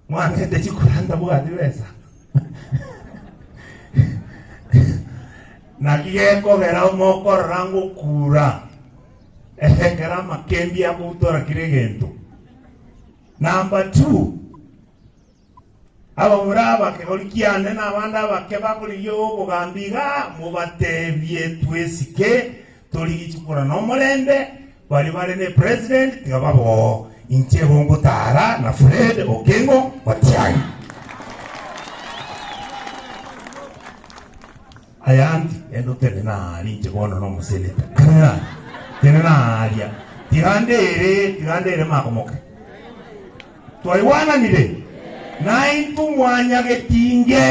Mwatete chikoranda bwanyu besa. Naki gekogera mokorora ngokuura ekero amakembi akobutorakire egento. Number two, Ababura ab'ekegori kiane na abande abake bakorigia obogambi iga, mobateebie twesike, torigichi korwa nomorembe, baria bare ne president tiga baboo, inche igo ngotaara na Fred Okengo Matiang'i. Ayandi, genda otenene aa ninche bono nomosenete. Tenena aa, tenena aaria. Tiranda ere, tiranda ere makomoke. Twaigwananire? Naintwe mwanyagetinge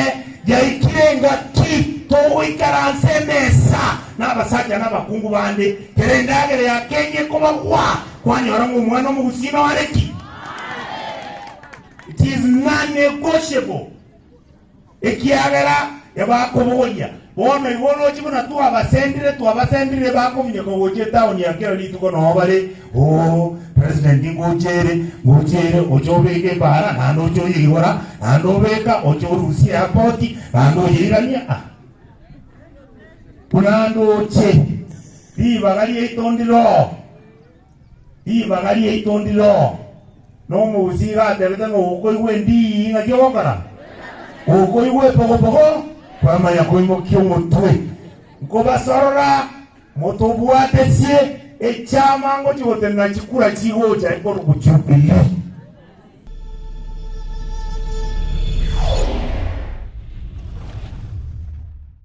yaikire engaki togoikaransa emesa nabasacha nabakungu bande, kera endagera ya kenya ekobagwa, kwanyora ng'a omwana omogusii nore ki? It is non-negotiable. Ekiagera nibakobogoria. Bono igo oroche buna twabasendire, twabasendire bakominyeka gocha etaoni ya kera rituko nao bare, Oo, President ngocha ere, ngocha ere, ocha obeka ebaara, naende ocha oyeigora, naende obeka, ocha orusia airport, naende oyeirania, ah, buna ndoche ribaga riaito ndire oo. Ribaga riaito ndiroo. Nomousi iga atebete ng'a okoigwa endii ng'aki ogokora? Okoigwa epogopogo? Kwamanya koimokia omotwe. Nkobasorora motobwatesie echiama ngochia gotenena chikura chigocha ekorokwa Jubilee.